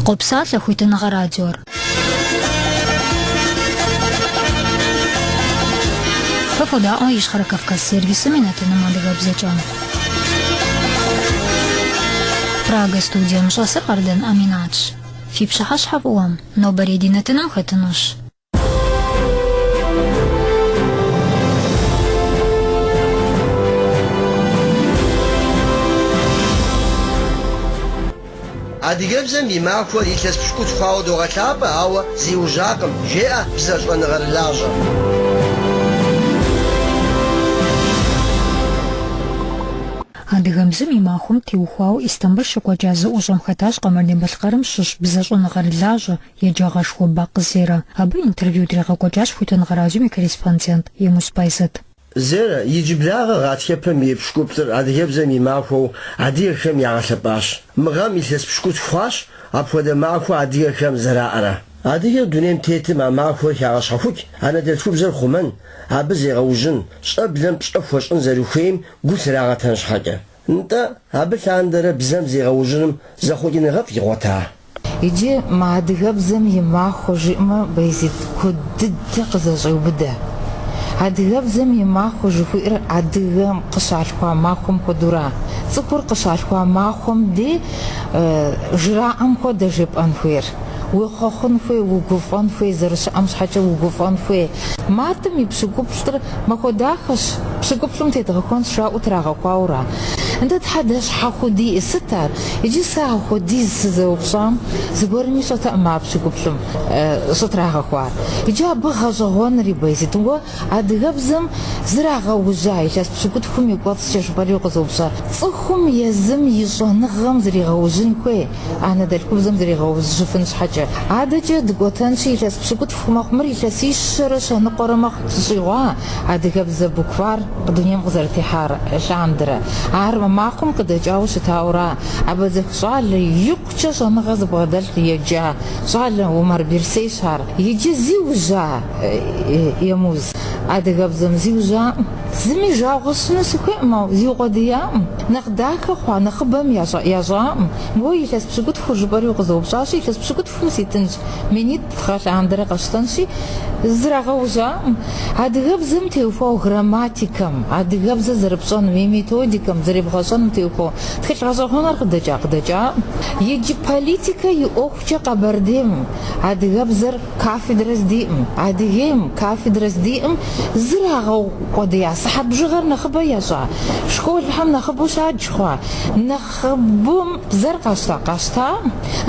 Къопсалъэ хуитыныгъэ радиор. Фэ фодаӏуэ Ищхъэрэ Кавказ сервисым и нэтыным адыгэбзэкӏэ. Прага студием щӏэсыр Къардэн Аминатщ. Фи пщыхьэщхьэ фӏыуэ, нобэрей ди нэтыным хэтынущ. Адыгэбзэм и махуэр илъэс пщыкӏутху хъуауэ догъэлъапӏэ, ауэ зиужьакъым, жеӏэ бзэ щӏэныгъэрылажьэм. Адыгэбзэм и махуэм теухуауэ Истамбыл щекӏуэкӏа зэӏущӏэм хэтащ Къэбэрдей-Балъкъэрым щыщ бзэ щӏэныгъэрылажьэ, Еджагъэшхуэ Бакъ Зерэ. Абы интервью дригъэкӏуэкӏащ Хуитыныгъэ радиом и корреспондент Емуз Баязит. Зерэ иджыблагъэ гъатхэпэм и пщыкӏуплӏыр адыгэбзэм и махуэу адыгэхэм ягъэлъэпӏащ. Мы гъэм илъэс пщыкӏутху хъуащ апхуэдэ махуэ адыгэхэм зэраӏэрэ. Адыгэр дунейм тетым а махуэр хягъэщхьэхукӏ, анэдэлъхубзэр хъумэн, абы зегъэужьын, щӏэблэм пщӏэ хуэщӏын зэрыхуейм гу лърагъэтэн щхьэкӏэ. Нтӏэ, абы лъандэрэ бзэм зегъэужьыным зэхъуэкӏыныгъэфӏ игъуэта? Иджы мы адыгэбзэм и махуэ жиӏмэ, Баязит куэд дыдэ къызэщӏеубыдэ. Адыгэбзэм и махуэ жыхуиӏэр адыгэм къыщалъхуа махуэм хуэдэура? Цӏыхур къыщалъхуа махуэм дей жраӏэм хуэдэ жепӏэн хуейр. Уехъуэхъун хуей, угуфӏэн хуей, зэрыщыӏэм щхьэкӏэ угуфӏэн хуей. Мартым и пщыкӏуплӏыр Махуэ дахэщ, пщыкӏуплӏым тедгъэхуэнщ жаӏэу трагъэхуауэра? Нтӏэ, Тхьэ, дэ щхьэ хуэдиӏи? Сыт ар? Иджы сэ ахуэдиз сызэупщӏам зыгуэрми ищӏэтэӏым а пщыкӏуплӏым щӏытрагъэхуар. Иджы абы гъэщӏэгъуэнри, Баязит, уэ адыгэбзэм зрагъэужьа илъэс пщыкӏутхум и кӏуэцӏкӏэ жыпӏэри укъызэупщӏа, цӏыхум езым и щӏэныгъэм зригъэужьын хуей? Анэдэлъхубзэм зригъэужьыфын щхьэкӏэ. Адэкӏэ дыкӏуэтэнщи, илъэс пщыкӏутху мэхъу мыр, илъэсищэрэ щэ ныкъуэрэ мэхъу щӏыщӏигъуа адыгэбзэ буквар дунейм къызэрытехьар лъандэрэ. Ар мы махуэм къыдэкӏауэ щытауэра, Абэдзэх щӏалэ икъукӏэ щӏэныгъэ зыбгъэдэлъ еджа щӏалэ Умар Берсейщ ар. Иджы зиужьа, Емуз, адыгэбзэм зиужьаӏым? Зыми жагъуэ сщӏыну сыхуейкъым, ауэ зиукъуэдияӏым. Нэхъ дахэ хъуа нэхъыбэм ящӏаӏым, Уэ илъэс пщыкӏутхур жыпӏэри укъызэупщӏащи, илъэс пщыкӏутхум ситынщ, минитӏ гъэ лъандэрэ къэсщтэнщи, зрагъэужьаӏым. Адыгэбзэм теухуау грамматикэм, адыгэбзэр зэрыпщӏэнум и методикэм, зэребгъэщӏэнум теухуау тхылъ гъэщӏэгъуэныр къыдэкӏа-къыдэкӏаӏым. Иджы политикэ и ӏуэхукӏэ Къэбэрдейм адыгэбзэр Кафедрэ здиӏэм, Адыгейм кафедрэ здиӏэм зрагъэукъуэдия сыхьэт бжыгъэр нэхъыбэ ящӏа, школхэм нэхъыбэу щадж хъуа, нэхъыбэм бзэр къащта,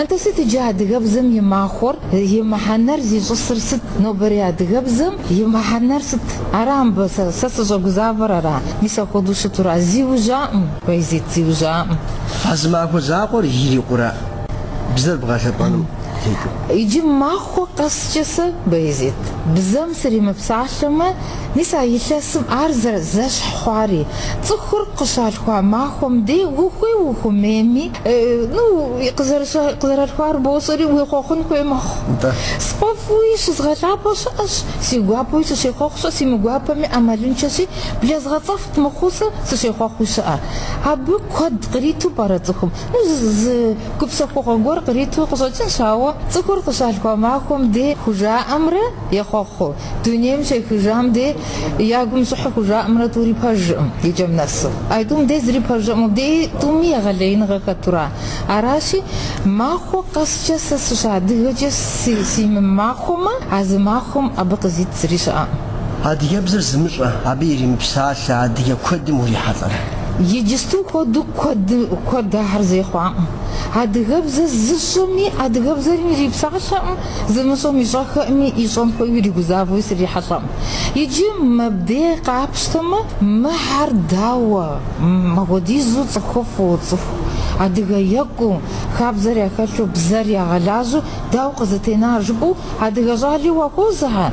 атӏэ сыт иджы адыгэбзэм и махуэр, и мыхьэнэр зищӏысыр сыт, нобэрей адыгэбзэм и мыхьэнэр сыт? Ара мыбы сэ сыщӏэгузавэр ара? Мис апхуэдэу щытура? Зиужьаӏым, Байзит, зиужьаӏым. А зы махуэ закъуэр ирикъура бзэр бгъэлъэпӏэным? Иджы махуэ къэскӏэ сэ, Баязит, бзэм сримыпсалъэмэ, мис а илъэсым ар зэрызэщхь хъуари, цӏыхур къыщалъхуа махуэм дей ухуей ухуэмейми, ну, къызэралъхуар бощӏэри, уехъуэхъун хуей мэхъу. Сфӏэфӏуи щызгъэлъапӏэу щыӏэщ, си гуапэуи сыщехъуэхъу щыӏэ, си мыгуапэми ӏэмалыншэщи, блэзгъэцӏэфт мыхъуу сэ сыщехъуэхъуи щыӏэ. Абы куэд къриту пӏэрэ цӏыхум? Тхьэуэ, зы гупсэхугъуэ гуэр къриту къыщӏэкӏынщ, ауэ цӏыхур къыщалъхуа махуэм дей хужаӏэмрэ ехъуэхъуу, дунейм щехыжам дей я гум щӏыхьэу хужаӏэмрэ тӏури пэжкъым и кӏэм нэсу. А тӏум дей зыри пэжкъым, мыбдеи тӏуми егъэлеиныгъэ хэтура? Аращи, махуэ къэскӏэ сэ сыщыадыгэкӏэ симымахуэмэ, а зы махуэм абы къызит зыри щыӏэкъым. Адыгэбзэр зымыщӏэ, абы иримыпсалъэ адыгэ куэдым урихьэлӏэрэ? Иджысту хуэдэу куэд ахэр зэи хъуакъым. Адыгэбзэр зыщӏэми, адыгэбзэм ирипсалъэкъым, зымыщӏэм ищӏэххэкъыми, ищӏэн хуейуи иригузавэуи срихьэлӏэкъым. Иджы мыбдей къапщтэмэ, мыхэр дауэ, мыпхуэдизу цӏыхуфӏу, цӏыху адыгэ екӏуу, хабзэр яхэлъу, бзэр ягъэлажьэу Дауэ къызытенар жыпӏэу адыгэ щӏали уахозыхьэ,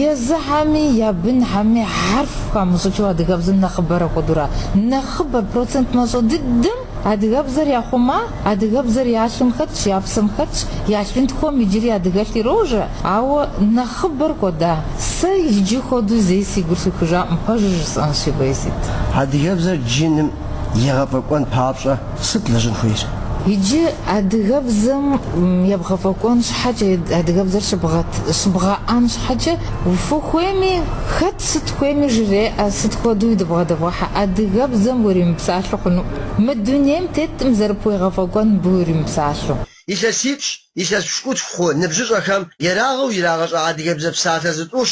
езыхэми я бынхэми хьэрф хамыщӏыкӏыу адыгэбзэм нэхъыбэр апхуэдэура? Нэхъыбэр, процент мащӏэ дыдэм адыгэбзэр яхъума, адыгэбзэр я лъым хэтщ, я псэм хэтщ, я лъынтхуэм иджыри адыгэлъ ирожэ, ауэ нэхъыбэр кӏуэда? Сэ иджы хуэдэу зэи си гур сухыжакъым, пэжыр жысӏэнщи, Байзит. Адыгэбзэр джыным егъэфӏэкӏуэн папщӏэ сыт лэжьын хуейр? Иджы адыгэбзэм ебгъэфӏэкӏуэн щхьэкӏэ, адыгэбзэр щыбгъэӏэн щхьэкӏэ фыхуейми, хэт сыт хуейми жреӏэ, сыт хуэдэуи дыбгъэдэвгъэхьэ, адыгэбзэм уримыпсалъэу хъуну, мы дунейм теткъым зэрыпхуегъэфӏэкӏуэн мыбы уримыпсалъэу. Илъэсипщӏ, илъэс пщыкӏутху хъу ныбжьыщӏэхэм ерагъыу ирагъэщӏа адыгэбзэ псалъэ зытӏущ